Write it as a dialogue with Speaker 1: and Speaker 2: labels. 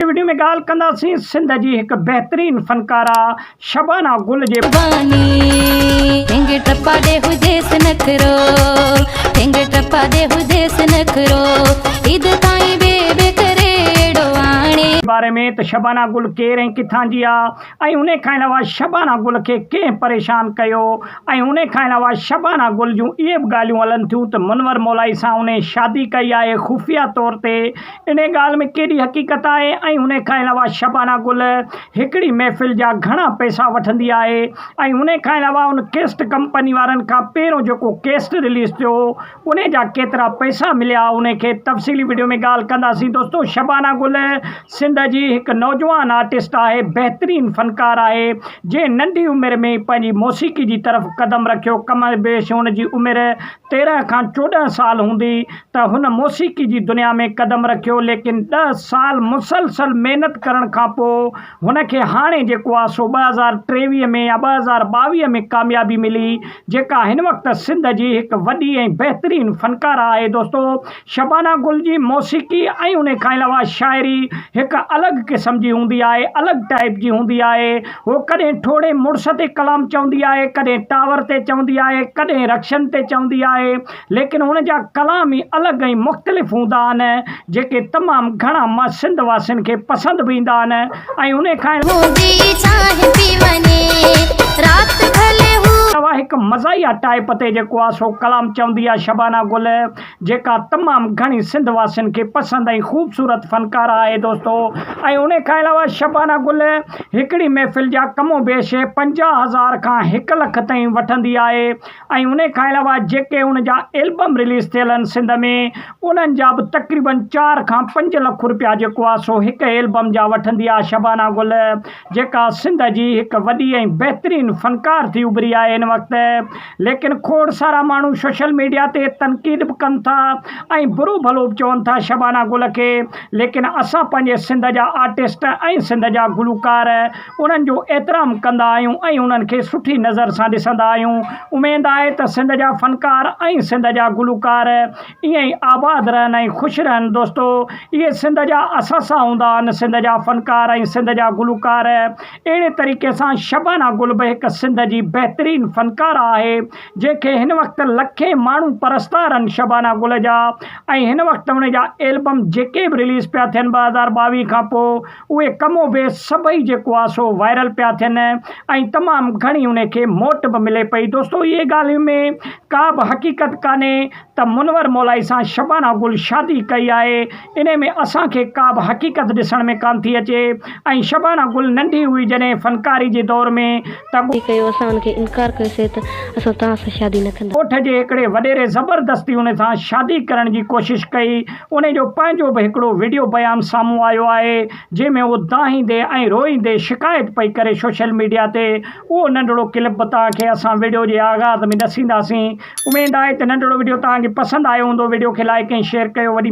Speaker 1: هن وڊيو ۾ ڳالهه ڪنداسين سنڌ جي هڪ بهترين فنڪاره شبانه گل جي باري ۾ ته شبانه گل ڪير ۽ ڪٿان جي آهي ۽ ان کان علاوه شبانه گل کي ڪنهن پريشان ڪيو ۽ ان کان علاوه شبانه گل جون اهي به ڳالهيون هلن ٿيون ته منور مولائي سان انهي شادي ڪئي آهي خفيه طور تي انهيء ڳالهه ۾ ڪيڏي حقيقت آهي ۽ انهيء کان علاوه شبانه گل هڪڙي محفل جا گهڻا پئسا وٺندي آهي ۽ انهيء کان علاوه ان ڪيسٽ ڪمپني وارن کان پهريون جيڪو ڪيسٽ رليز ٿيو هو انهيء جا ڪيترا پئسا مليا انهيء کي تفصيلي وڊيو ۾ ڳالهه ڪنداسين دوستو شبانه گل سنڌ جي هڪ نوجوان آرٽسٽ آهي بهترين فنڪار آهي جنهن ننڍي عمر ۾ ئي پنهنجي موسيقي جي طرف قدم رکيو ڪم بيش هن جي عمر تيرهن کان چوڏهن سال هوندي ته هن موسيقي جي دنيا ۾ قدم رکيو ليڪن ڏهه سال مسلسل محنت ڪرڻ کان پوء هن کي هاڻي جيڪو آهي سو ٻه هزار ٽيويهه ۾ يا ٻه هزار ٻاويهه ۾ ڪاميابي ملي جيڪا هن وقت سنڌ جي هڪ وڏي ۽ بهترين فنڪاره آهي دوستو شبانه گل جي موسيقي ۽ ان کان علاوه شاعري هڪ الڳ قسم جي هوندي آهي، الڳ ٽائيپ جي هوندي آهي. هوء ڪڏهن ٺوڙهي مڙس تي ڪلام چوندي آهي، ڪڏهن ٽاور تي چوندي آهي، ڪڏهن رڪشن تي چوندي آهي، ليڪن هن جا ڪلام ئي الڳ ۽ مختلف هوندا آهن، جيڪي تمام گهڻا مان سنڌ واسين کي پسند به ايندا آهن ۽ ان کان علاوه هڪ مزاحيه ٽائيپ تي جيڪو آهي سو ڪلام چوندي آهي شبانه گل. جيڪا تمام گهڻي سنڌ واسين کي پسند ۽ خوبصورت فنڪاره آهي دوستو ۽ انهي کان علاوه شبانه گل هڪڙي محفل جا ڪم و بيش پنجاهه هزار کان هڪ لک تائين وٺندي آهي ۽ انهي کان علاوه جيڪي ان جا البم رليز ٿيل آهن سنڌ ۾ انهن جا به تقريبن چار کان پنج لک روپيا جيڪو آهي سو هڪ البم جا وٺندي آهي شبانه گل جيڪا سنڌ جي هڪ وڏي ۽ بهترين فنڪار ٿي اڀري آهي هن وقت ليڪن کوڙ سارا ماڻهو سوشل ميڊيا تي تنقيد به ڪن ٿا ۽ برو ڀلو به چون ٿا شبانه گل کي ليڪن اسان پنهنجي سنڌ جا آرٽسٽ ۽ سنڌ جا گلوڪار انهن جو احترام ڪندا آهيون ۽ انهن کي سٺي نظر سان ڏسندا آهيون اميد آهي ته سنڌ جا فنڪار ۽ سنڌ جا گلوڪار ائين ئي آباد رهن ۽ خوش رهن دوستو اهي سنڌ جا اثاثا هوندا آهن سنڌ جا فنڪار ۽ سنڌ جا گلوڪار اهڙي طريقي سان شبانه گل به هڪ سنڌ جي بهترين فنڪاره آهي جنهن کي هن وقت لکين ماڻهو پرستار آهن شبانه گل جا ۽ هن وقت هن جا ايلبم جيڪي به رليز پيا ٿين ٻه هزار ٻاويهه کان پوء اهي ڪم و بيس سڀئي جيڪو آ سو وائرل پيا ٿين ۽ تمام گهڻي انهي کي موٽ به ملي پئي دوستو اهي ڳالهين ۾ ڪا به حقيقت ڪانهي ته منور مولائي سان شبانا گل شادي ڪئي آهي انهي ۾ اسان کي ڪا به حقيقت ڏسڻ ۾ ڪانه ٿي اچي ۽ شبانا گل ننڍي هئي جڏهن فنڪاري جي دور ۾ تباهي ڪيو، اسان ان کي انڪار
Speaker 2: ڪيو سي ته اسان توهان سان شادي نه ڪندا. ڳوٺ جي هڪڙي وڏيري
Speaker 1: زبردستي ان سان شادي ڪرڻ جي ڪوشش ڪئي، ان جو پنهنجو به هڪڙو وڊيو بيان سامهون آيو آهي، جنهن ۾ هوء دانهيندي ۽ روئيندي شڪايت پئي ڪري سوشل ميڊيا تي، اهو ننڍڙو ڪلپ به توهان کي اسان وڊيو جي آغاز ۾ ڏسينداسين، اميد آهي ته ننڍڙو وڊيو توهان کي پسند آيو هوندو، وڊيو کي لائيڪ ۽ شيئر ڪيو، وڏي.